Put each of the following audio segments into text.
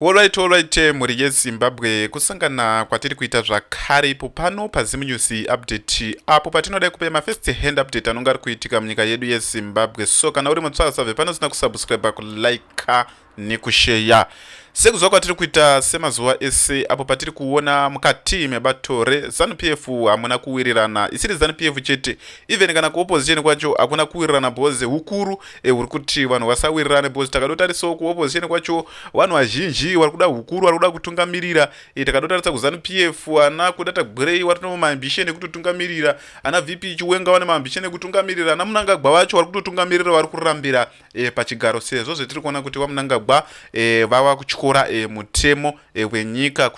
Alright alright eh, mhuri yeZimbabwe kusangana kwatiri kuita zvakare ipo pano paZim News update apo patinodai kupa ma first hand update anonga ari kuitika munyika yedu yeZimbabwe so kana uri mutsvara save pano usina kusubscribe kulike nekusheya sekuziva kwatiri kuita semazuva ese apo patiri kuona mukati mebato rezanup f hamuna kuwirirana isiri zanup f chete even kana kuopposition kwacho hakuna kuwirirana bhoze hukuru e, uri kuti vanhu vasawirirane because takadotarisao kuopposition kwacho vanhu vazhinji vari kuda hukuru vari kuda kutungamirira e, takadotarisa kuzanu p f ana kuda tagwirei vari no maambisheni ekutotungamirira ana v p chiwenga vane maambisheni ekutungamirira ana munangagwa vacho vari kutotungamirira vari kurambira e, pachigaro sezvo zvetiri kuona kuti vamunangagwa e, vava kutyora e, mutemo ehwenyika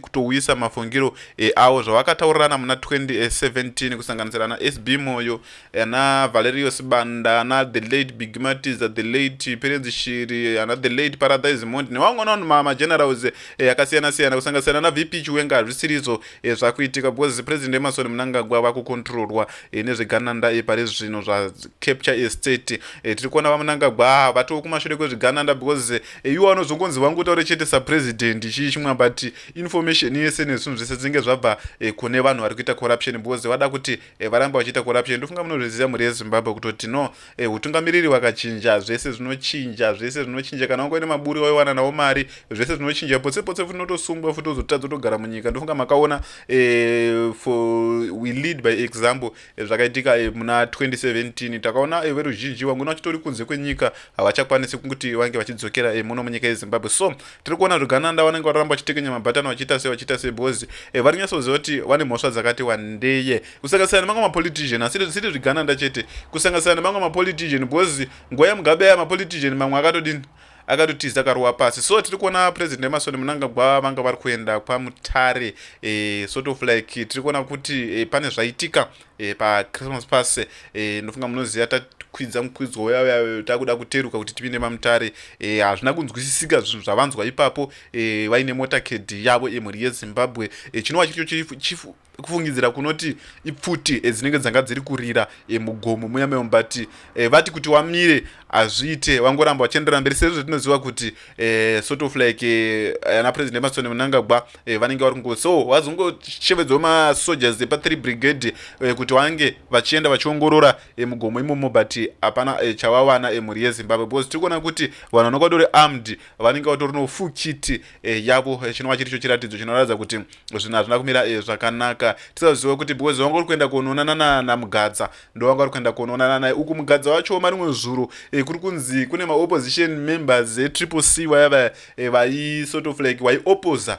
kutouyisa mafungiro eavo zvavakataurirana muna 2017 kusanganisira ana sb moyo ana valerio sibanda ana the late bigmatiza the late perenzi shiri ana the late paradise mondi nevamwe navanhu magenerals eh, akasiyana siyana kusanganisira ana vp chiwenga hazvisirizvo eh, zvakuitika because president emasoni munangagwa vakukontrolwa eh, nezvegananda pari zvino zvacapture estate tiri kuona vamunangagwa vatokumashure kwezvigananda because iwo anozongonzi wangu utaure chete sapresident chii chimwe but information yese nezvinhu zvese dzinenge zvabva e, kune vanhu vari kuita corruption because vada kuti e, varamba vachiita corruption ndofunga munozviziva mhuri yezimbabwe kutoti no e, utungamiriri wakachinja zvese zvinochinja zvese zvinochinja kana wangoine maburi waiwana nawo mari zvese zvinochinja potse potse futi unotosungwa futi uzotadza utogara munyika ndofunga makaona e, for we lead by example Eh, zvakaitika eh, muna 2017 takaona eh, veruzhinji vangona vachitori kunze kwenyika havachakwanisi kuti vange vachidzokera muno munyika yezimbabwe so tiri kuona zvigananda vanenge varamba vachitekenya mabhatani vachiita se vachiita se because vari nyatsoziva kuti vane mhosva dzakati wandeye kusanganisira nemamwe mapolitician asi siri zvigananda chete kusanganisira nemamwe mapolitician because nguva yemugabe aya mapolitician mamwe akatodini akatotiza karuwa pasi so tiri kuona president emasoni munangagwa vanga vari kuenda kwamutare e, sort of like tiri kuona kuti e, pane zvaitika e, pachristmas pass e, ndofunga munoziva takwidza mukwidzo uyayayo takuda kuteruka kuti tipinde mamutare hazvina e, kunzwisisika zvinhu zvavanzwa ipapo e, vaine motaked yavo emhuri yezimbabwe e, chinova chiricho chief kufungidzira kunoti ipfuti eh, dzinenge dzanga dziri kurira eh, mugomo muya memo but eh, vati kuti wamire hazviite vangoramba vachienderera mberi sezvo tinoziva kuti eh, sort of like eh, ana president emasoni munangagwa eh, vanenge vari kungo so vazongoshevedzwa masoldiers epa three brigade eh, kuti vange vachienda vachiongorora eh, mugomo imomo but hapana eh, chavawana eh, mhuri yezimbabwe because tiri kuona kuti vanhu vanokwatori armed vanenge vatori nofukiti eh, yavo eh, chinova chiricho chiratidzo chinoratidza kuti zvinhu hazvina kumira eh, zvakanaka tisaziva kuti because vanga uri kuenda kunoonana namugadza ndovanga uri kuenda kunoonana naye uku mugadza wacho marimwe zuro eh, kuri kunzi kune maopposition members etriple eh, c vaya vaya eh, vai sort of like vaiopposa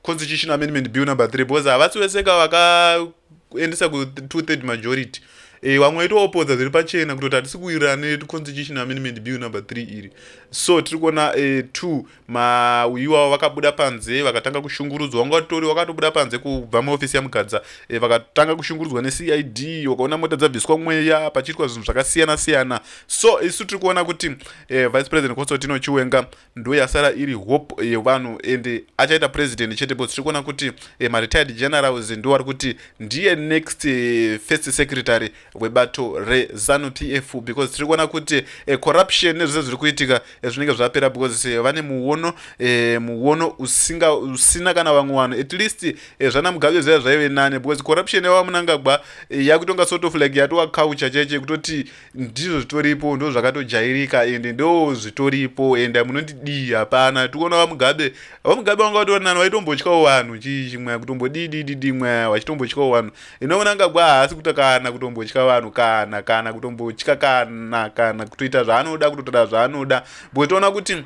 constitution amendment bill number three because havasi vese ka vakaendesa ku two third majority Eh, vamwe vaitoopodza zviri pachena kutoti hatisi kuwirirana neconstitution amendment bill number three iri so tiri kuona eh, two mauyu avo vakabuda panze vakatanga kushungurudzwa vanga vatori vakatobuda panze kubva muofisi yamugadza e, vakatanga kushungurudzwa necid wakaona mota dzabviswa mweya pachiitwa zvinhu zvakasiyana siyana so isu tiri kuona kuti e, vice president kosotino chiwenga ndo yasara iri hope yevanhu e, and achaita president chete bcause tiri kuona kuti e, maretired generals ndo vari kuti ndiye next e, first secretary webato rezanu pf because tiri kuona kuti eh, corruption nezvese zviri kuitika eh, zvinenge zvapera because eh, vane muono eh, muono usinga usina kana vamwe vanhu at least eh, zvana mugabe zviya zvaive nane because corruption yava munangagwa eh, yakutonga sort of like yatova culture cheche kutoti ndizvo zvitoripo ndo zvakatojairika and ndo zvitoripo and munondidii hapana tikuona vamugabe vamugabe vanga vatori nani vaitombotyawo vanhu chii chimwe kutombodii dii dii dii mweya vachitombotyawo vanhu inoona nga bwa haasi kuita kana kutombotya vanhu kana kana kutombotya kana kana kutoita zvaanoda kutotora zvaanoda because toona kuti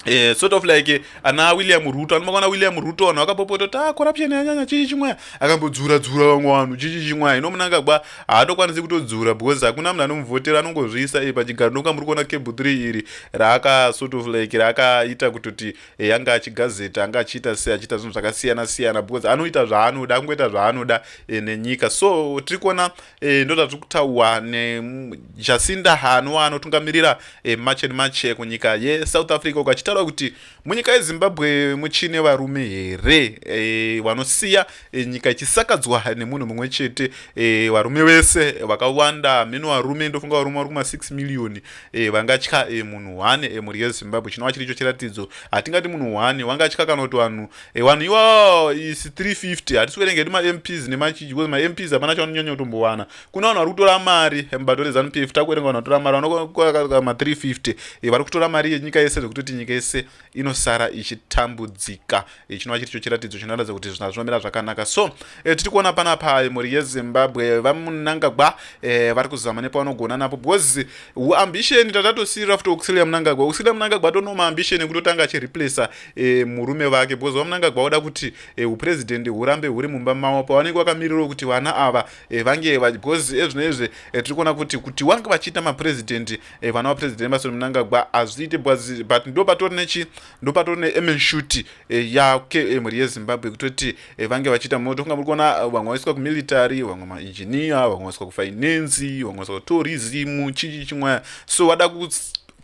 Eh, sort of like eh, ana william ruto anomakaona william ruto vanhu vakapopota kuti ah, corruption yanyanya chii chimwaya akambodzura dzura vamwe vanhu chii chimwaya ino munanga ba haatokwanisi kutodzura because hakuna munhu anomuvhotera anongozviisa e pachigaro noka muri kuona cable three iri raaka sort of like raakaita kutoti eh, anga achigazeta anga achiita sei achiita zvinhu zvakasiyana siyana because anoita zvaanoda angoita zvaanoda eh, nenyika so tiri kuona eh, ndo zvatiri kutaurwa nejasinda hanwa anotungamirira eh, march and march eh, kunyika yesouth africa uko achitaura kuti munyika yezimbabwe muchine varume here eh, vanosiya e, nyika ichisakadzwa nemunhu mumwe chete e, varume vese vakawanda mino varume ndofunga varume vari kuma 6 miriyoni e, vangatya e, munhu one e, mhuri yezimbabwe chinova chiri icho chiratidzo hatingati munhu one wangatya kana kuti vanhu e, vanhu iwawo isi 350 hatisi kuverenga hedu mamps nemachiji because mamps hapana chavanonyanya kutombowana kuna vanhu vari kutora mari e, mubato rezanup f takuverenga vanhu vatora mari vanokaa ma 350 e, vari kutora mari yenyika yese zvekutoti nyika yese inosara ichitambudzika eh, chinova chiri cho chiratidzo chinoratidza kuti zvina zvinomira zvakanaka so e, tiri kuona panapa eh, mhuri yezimbabwe vamunangagwa e, vari kuzama nepavanogona napo because uambition tatatosirira futi auxilia munangagwa auxilia munangagwa atonoma ambition ekutotanga achireplacea e, murume vake because vamunangagwa voda kuti e, upresident hurambe huri mumba mavo pavanenge vakamirirawo kuti vana ava e, vange because ezvino izvi e, tiri kuona kuti kuti wange vachiita mapresident eh, vana vapresident emerson mnangagwa hazviite bwazi but ndo patori nechi ndo patori neemenshuti eh, yake eh, mhuri yezimbabwe kutoti eh, vange vachiita moto kunga muri kuona eh, vamwe vaiswa kumilitary vamwe mainjinia vamwe vaiswa kufinancy vamwe vaiswa kutourism chichi chimwaya so vada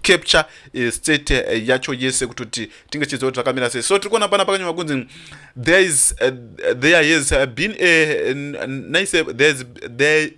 capture uh, state uh, yacho yese kutoti tinge tichiziva kuti zvakamira sei so tiri kuona pana pakanyorwa kunzi there is uh, there has been a, a nice uh, there, is, there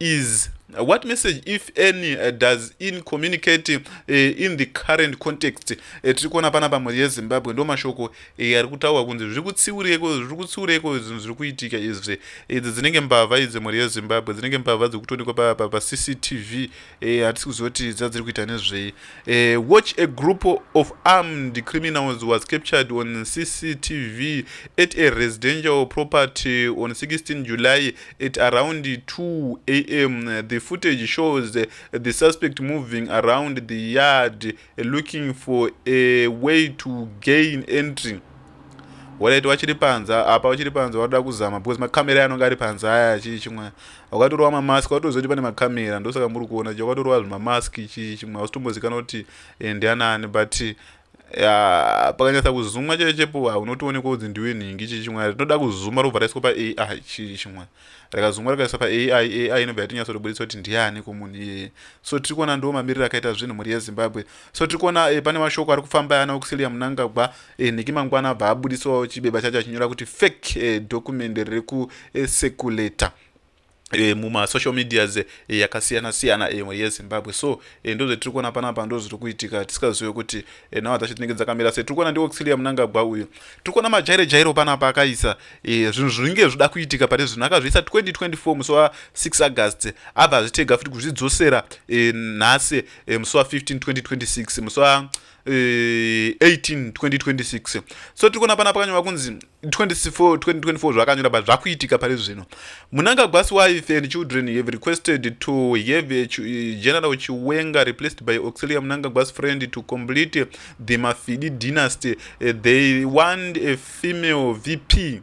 is what message if any uh, does in communicate uh, in the current context uh, tiri kuona pana pamhuri yezimbabwe ndo mashoko uh, ari kutaurwa kunzi zviri kutsiureko zviri kutsiureko zvinhu zviri kuitika izvi idzi dzinenge mbavha idzi mhuri yezimbabwe dzinenge mbavha dziri kutonikwa papa pacctv uh, hatisi kuziva kuti dzadziri kuita nezvei uh, watch a group of armed criminals was captured on cctv at a residential property on 16 july At around 2 a.m., the footage shows the suspect moving around the yard looking for a way to gain entry. Waleti wachiri panze apa wachiri panze wada kuzama because makamera anonga ari panze aya chii chimwe wakatorova mamask watoziva kuti pane makamera ndosaka muri kuona chii wakatorova zvimamask chii chimwe hausitombozikanwa kuti eh, ndianani but ya pakanyatsa kuzumwa chaiyo chepuwa unotoonekwa kunzi ndiwe nhingi chii chimwe rinoda kuzuma robva raiswa paai chii chimwe rakazumwa rakaiswa paai ai inobva yatinyatsorobudisa kuti ndiani kumunhu iyeye so tiri kuona ndiwo mamiriro akaita zvinhu mhuri yezimbabwe so tiri kuona e, pane mashoko ari kufamba ana oxilia munangagwa e, nhiki mangwana abva abudisawo chibeba chacho achinyora kuti fake e, eh, dokumende riri kusekuleta e, E, mumasocial medias e, yakasiyana siyana imwe e, yezimbabwe so e, ndo zvatiri kuona panapa ndo zviri kuitika tisingazive kuti e, nhau dzacho tinenge dzakamira se tiri kuona ndioxilia munangagwa uyu tiri kuona majairo jairo panapa akaisa e, zvinhu zvinenge zvida kuitika pane zvinhu akazviisa 2024 musi wa 6 august abva azvitega futi kuzvidzosera e, nhasi e, musi wa 15 2026 musi wa 18 2026 so tiri kuona pana pakanyora kunzi 24 2024 zvakanyora but zvakuitika pari zvino munangagwasi wife and children have requested to have a general chiwenga replaced by auxilia munangagwasi friend to complete the mafidi dynasty eh, they want a female vp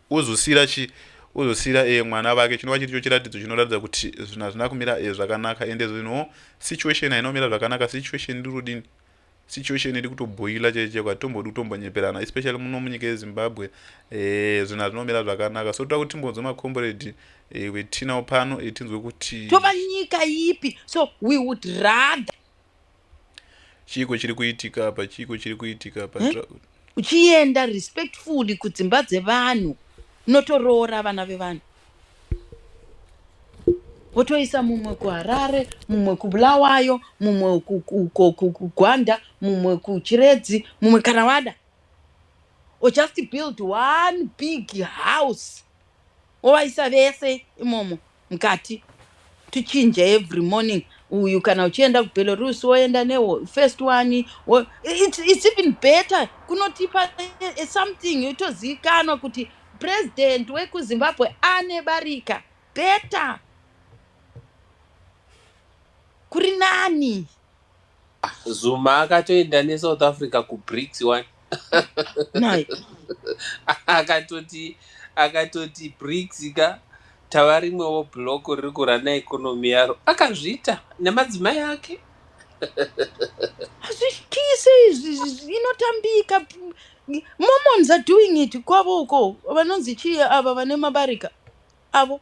Ozosiyira chi? Ozosiyira e, mwana vake. Chinova chiri cho chiratidzo chinoratidza kuti zvinhu hazvina kumira e, zvakanaka. Ende zve no situation haina kumira zvakanaka. Situation iri kudini? Situation iri kutobhoila chaicho chaicho. Hatimbodi kutombonyeperana especially muno munyika yeZimbabwe. Eh, zvinhu hazvina kumira zvakanaka. So toda kuti timbonzwe makomboredi e, eh, wetinawo pano e, tinzwe kuti. Tova nyika ipi? So we would rather chiiko chiri kuitika apa chiiko chiri kuitika apa hmm? uchienda respectfully kudzimba dzevanhu unotoroora vana vevanhu wotoisa mumwe kuharare mumwe kubulawayo mumwe kugwanda mumwe kuchiredzi mumwe kana wada or just build one big house wovaisa vese imomo mukati tichinje every morning uyu kana uchienda kubelarus woenda nefirst one wo, it's, it's even better kunotipa eh, something itozivikanwa kuti president wekuzimbabwe ane barika better kuri nani Zuma akatoenda neSouth Africa kuBRICS wani Nhai. akatoti akatoti BRICS ka tava rimwewo block riri kurana economy yaro akazviita nemadzimai ake hazvityise izvi izvi inotambika mormons are doing it kwavo uko vanonzi chii ava vane mabarika avo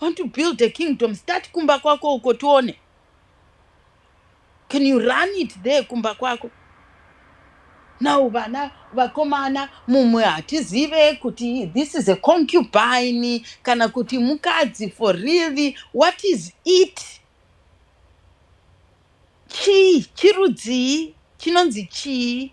want to build a kingdom start kumba kwako uko tione can you run it there kumba kwako now vana vakomana mumwe hatizive kuti this is a concubine kana kuti mukadzi for really what is it chii chirudzii chinonzi chii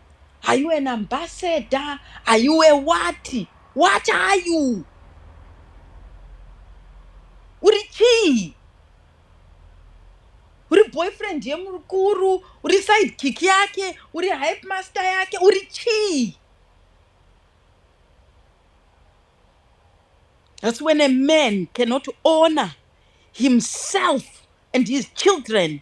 Are you an ambassador? Are you a what? What are you? Uri chii? Uri boyfriend yemukuru, uri side kick yake, uri hype master yake, uri chii? That's when a man cannot honor himself and his children.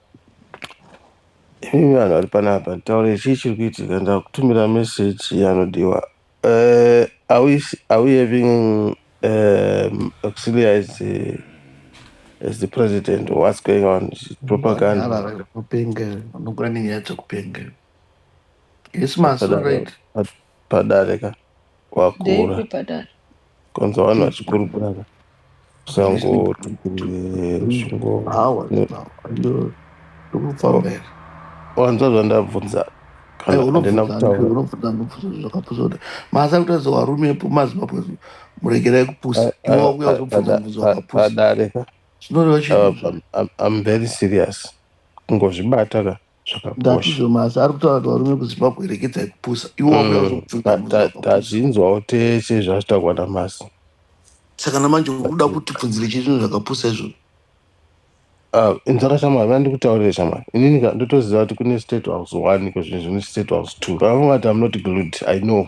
Imi vanhu vari panapa nditaure chii chiri kuitika ndakutumira message yanodiwa uh, are, we, are we having um, auxiliary as the, as the president or what's going on Is it propaganda Vanopenga, vanogona nenyaya dzekupenga. Yes, ma, so right. But- padare ka wakura ndeipi padare kwanza vanhu vachikurukura ka usangotikuresungowanzwa zvandabvunza kana andina kutaura masa kutaridza warume mazimbabwe muregerai kupusa iwe wakuya uzobvunza mubvunzo wakapusa padare ka zvinoreva chii I'm, I'm, I'm very serious kungozvibata ka zvakakosha ndatizomazi ari kutaura kuti varume kuzimbabwe erekedzai kupusa iwo wakuda Mm, kuzokudzinga ta- murume ta- wakapusa tazvinzwawo tese zvazvitaurwa namasi saka namanje uri kuda kuti pfunzire chete zvinhu zvakapusa izvozvo Ah, inzwaka shamwari vana ndikutaurire shamwari inini ka ndotoziva kuti kune state house one kozvinhu zvine state house two vavangati am not glued i know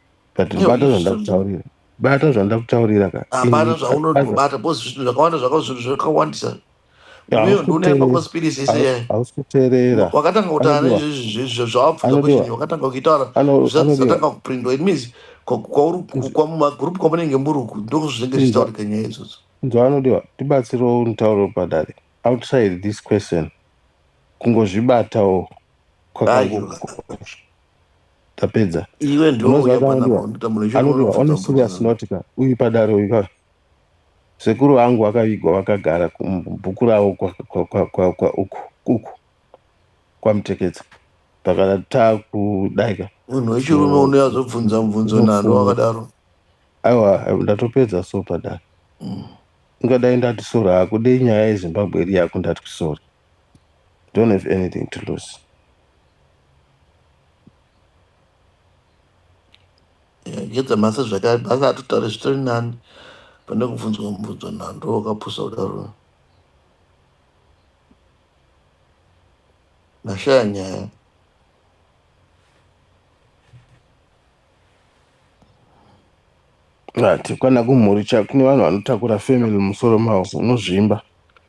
but Iyo, bata izvi zvinhu- zvandakutaurira bata zvandakutaurira ka hapana Ini- zvaunotobata bcause zvinhu zvakawanda zvaka zvinhu zvakawandisa Hausi iweyo ndiune kuteerera. bcause pilisi ise Hausi- hausi kuteerera wakatanga kutaura Anodiwa. nezvezvizvo zvawabvunza Anodiwa. question iyo wakatanga kuitaura Ano- zvisati anodiwa. zvatanga kuprindwa it means kwa- kwauri Izvi- kwamumagroup kwamunenge muri uku ndokuzvinenge Izvi- zvichitaurika nyaya idzodzo nzwa anodiwa tibatsirewo nitauro padare outside this question kungozvibatawo kwaka- Ayo. tapedza iwe ndouya panaanodiwa one serious note ka uyu padare uyu ka sekuru vangu vakavigwa vakagara kubhuku ravo uku uku kwamuteketsa takada takudai ka munhu wechirume unouya zobvunza mubvunzo nando wakadaro aiwa ndatopedza so padare mm. ungadai ndati sora hakudei nyaya yezimbabwe iri yako ndati kusori don't have anything to lose ngedza masa zvakare basa atotare zvitori nani pane kubvunzwa mubvunzo nhando wakapusa kudaro nashaya nyaya ati kwana kumhuri cha kune vanhu vanotakura family musoro mavo unozvimba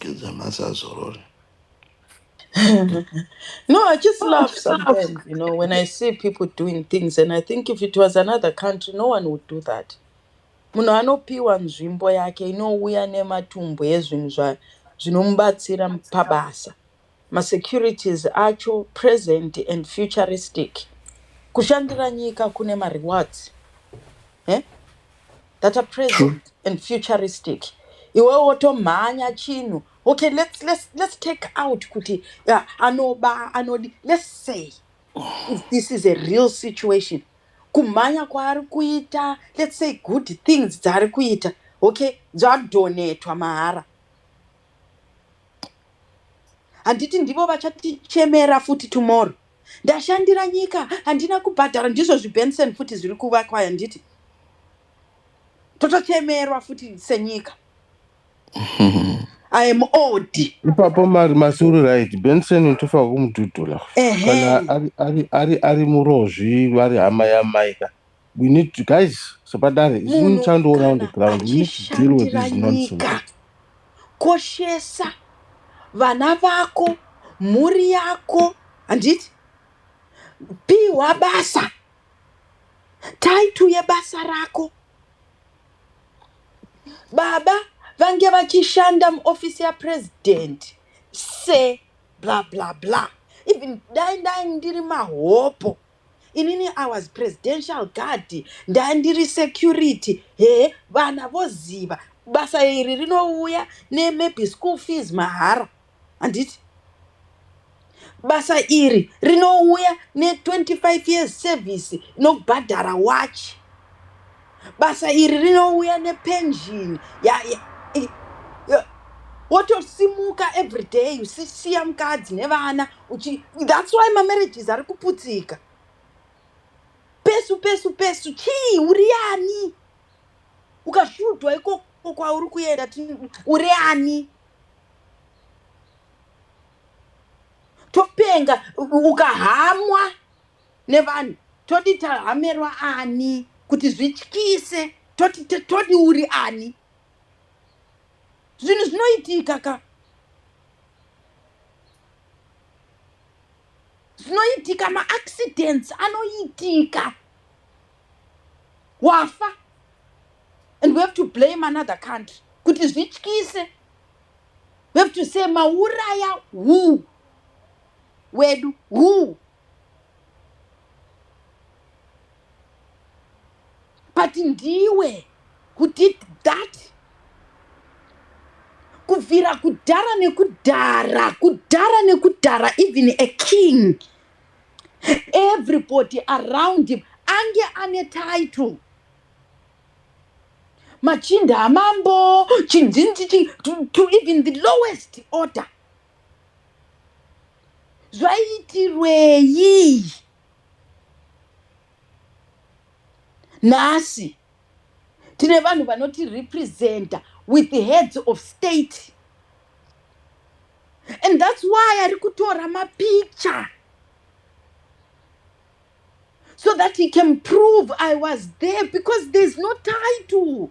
Kids must have sorrow. no, I just laugh sometimes, you know, when I see people doing things and I think if it was another country, no one would do that. munhu anopiwa nzvimbo yake inouya nematumbu ezvinhu zva- zvinomubatsira pabasa ma securities acho present and futuristic kushandira nyika kune ma rewards eh? that are present True. and futuristic iwe wotomhanya chinhu okay let's, let's, let's take out kuti yeah, anoba anodi let's say if this is a real situation kumhanya kwaari kuita let's say good things dzaari kuita okay dzadonetwa mahara handiti ndivo vachatichemera futi tomorrow ndashandira nyika handina kubhadhara ndizvo zvibenson futi zviri kuvakwa handiti totochemerwa futi senyika i am old ipapo mari masuri right benson utofa kumudhudhula kana ari ari ari ari murozvi vari hama yamaika we need to guys sepadare izini Munhu chandioona on the kana ground we need to deal with achishandira this nyika nonsense koshesa vana vako mhuri yako handiti pihwa basa taitu yebasa rako baba vange vachishanda muofisi yapresident se bla bla bla even dai ndai ndiri mahopo Inini I was presidential guard ndandiri security hee vana voziva basa iri rinouya ne maybe school fees mahara handiti basa iri rinouya ne 25 years service inobhadhara watch basa iri rinouya nepension ya, ya, i- ya, wotosimuka every day usisiya mukadzi nevana uchi that's why mamarriages ari kuputsika pesu pesu pesu chii uri ani ukasvudwa ikoko kwauri kuenda tin- uri ani topenga u- ukahamwa nevanhu todi tahamerwa ani kuti zvityise toti te- todi uri ani zvinhu zvinoitika ka zvinoitika maaccidents anoitika wafa and we have to blame another country kuti zvityise we have to say mauraya who wedu who but ndiwe who did that kubvira kudhara nekudhara kudhara nekudhara even a king everybody around him ange ane title machinda amambo chinzinzi to even the lowest order zvaiitirwei nhasi tine vanhu vanoti representa with the heads of state and thats why ari kutora mapicture so that he can prove i was there because there's no title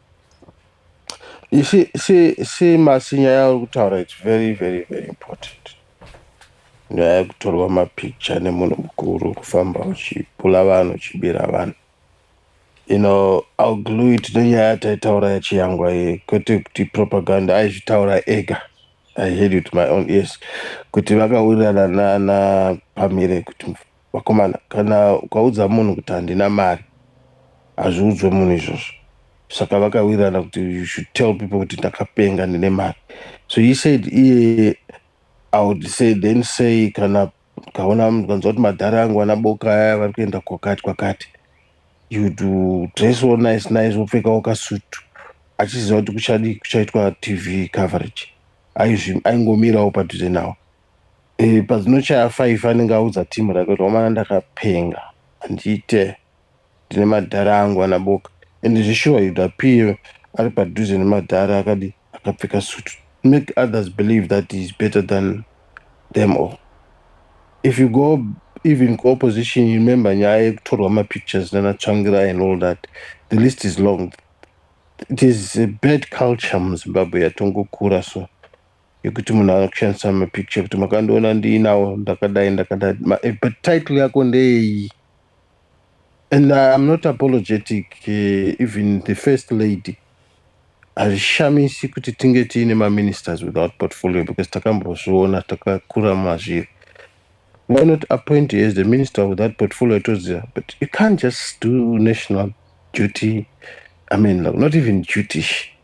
You see, see, see Masi nyaya yauri kutaura it's very very very important. Nyaya yekutorwa mapikicha nemunhu mukuru kufamba uchipula vanhu uchibira vanhu. You know, I'll glue it nenyaya yataitaura yachiyangwa iyi kwete kuti propaganda aizvitaura ega. I heard it with my own ears kuti vakawirirana nana Pamire kuti Vakomana kana ukaudza munhu kuti handina mari hazviudzwe munhu izvozvo saka vakawirirana kuti you should tell people kuti ndakapenga ndine mari so he said iye i would say then say kana kaona kanzwa kuti madhara yangu ana boka aya vari kuenda kwakati kwakati you do dress all nice nice wopfekawo kasutu achiziva kuti kuchadii kuchaitwa tv coverage aizvi- aingomirawo padhuze nawo E, pazinochaya five anenge audza team rake kuti wamana ndakapenga handiite ndine madhara angu ana boka and zveshuwa you'd appear ari padhuze nemadhara akadi akapfeka suit make others believe that he is better than them all if you go even kuopposition you remember nyaya yekutorwa mapictures nana tsvangira and all that the list is long it is a bad culture muzimbabwe yatongokura so yekuti munhu akushandisa mapicture kuti makandiona ndiinawo ndakadai ndakadai eh, but title yako ndeyeyi and iam not apologetic eh, even the first lady hazvishamisi kuti tinge tiine maministers without portfolio because takambozviona takakura mazviri why not appoint as the minister without portfolio toziva but you can't just do national duty i mean like not even dutish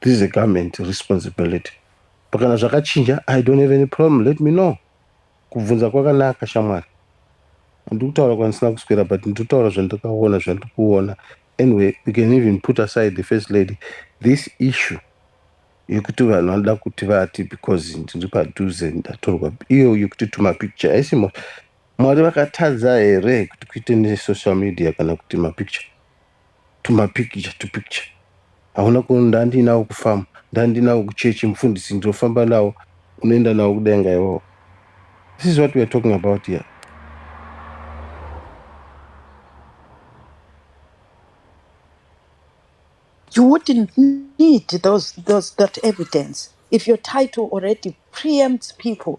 This is a government responsibility. Pakana zvakachinja, I don't have any problem, let me know. Kubvunza kwakanaka shamwari. Handiri kutaura kwandisina kuswera but ndiri kutaura zvandakaona zvandiri kuona. Anyway, we can even put aside the first lady. This issue yekuti vanhu vanoda kuti vati because ndiri padhuze ndatorwa iyo yekuti tuma picture haisi mo- Mwari vakatadza here kuti kuite nesocial media kana kuti mapicture. tumapikicha tupikicha hauna kuona ndandiinawo kufamu ndandiinawo kuchechi mufundisi ndinofamba nawo unoenda nawo kudenga iwawo this is what weare talking about here you wouldn't need those, those, that evidence if your title already preempts people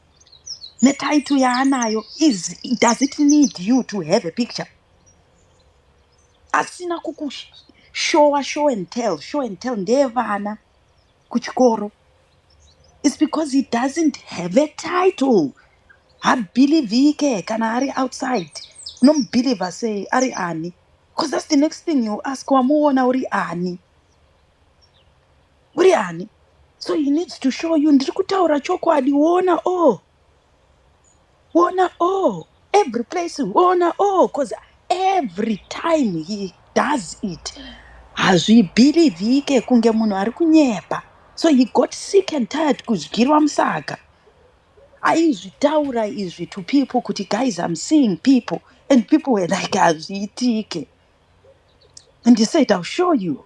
netitle yaanayo is does it need you to have a picture asina kukushowa show and tell show and tell ndeyevana kuchikoro is because he doesn't have a title habhilivhike kana ari outside unomubhilivha sei ari ani because that's the next thing you ask wamuona uri ani uri ani so he needs to show you ndiri kutaura chokwadi wona o wona o every place wona o cause every time he does it hazvibhirivhike kunge munhu ari kunyepa so he got sick and tired kudyirwa musaka aizvitaura izvi to people kuti guys i'm seeing people and people were like hazviitike and he said i'll show you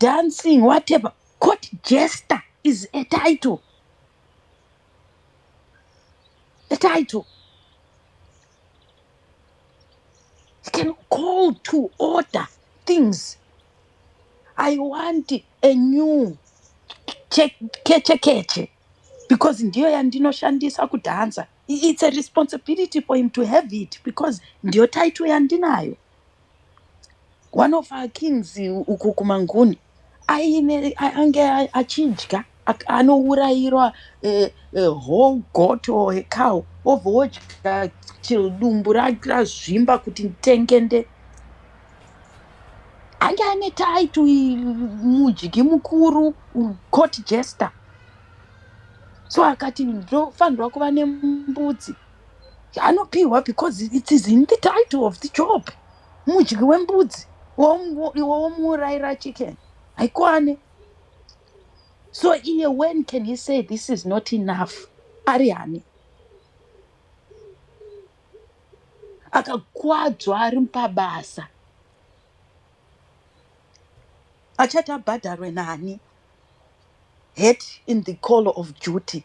dancing whatever court jester is a title a title you can call to order things i want a new che- keche keche because ndiyo yandinoshandisa kudhanza I- it's a responsibility for him to have it because ndiyo title yandinayo One of our kings uko kumanguni aine ange achidya anourairwa eh, eh, whole goat or a cow obva wodya till dumbu ra- razvimba kuti ntengende ange ane title i- mudyi mukuru u- court jester so akati ndofanirwa kuva nembudzi anopihwa because it is in the title of the job mudyi wembudzi iwe womuurayira chicken haikwane so iye when can he say this is not enough ari hani akakwadzwa ari pabasa achati abhadharwe nani het in the call of duty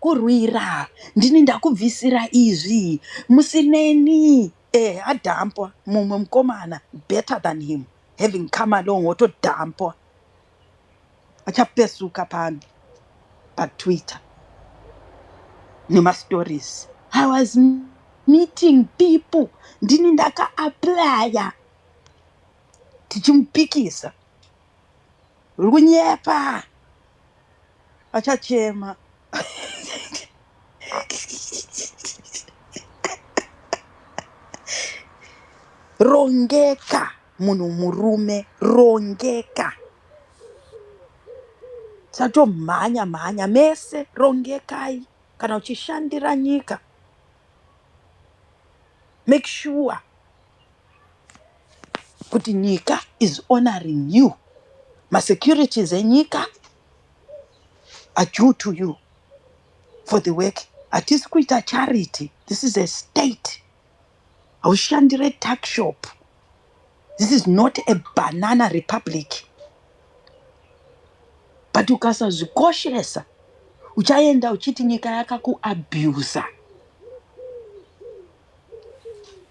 kurwira ndini ndakubvisira izvi musineni eh adhampwa mumwe mukomana better than him having come along wotodhampwa achapesuka pano patwitter nemastories i was meeting people ndini ndakaaplaya tichimupikisa uri kunyepa vachachema rongeka munhu murume rongeka satomhanya mhanya mese rongekai kana uchishandira nyika make sure kuti nyika is honouring you masecurities enyika are due to you for the work hatisi kuita charity this is a state haushandire tuck shop this is not a banana republic but ukasazvikoshesa uchaenda uchiti nyika yakakuabuser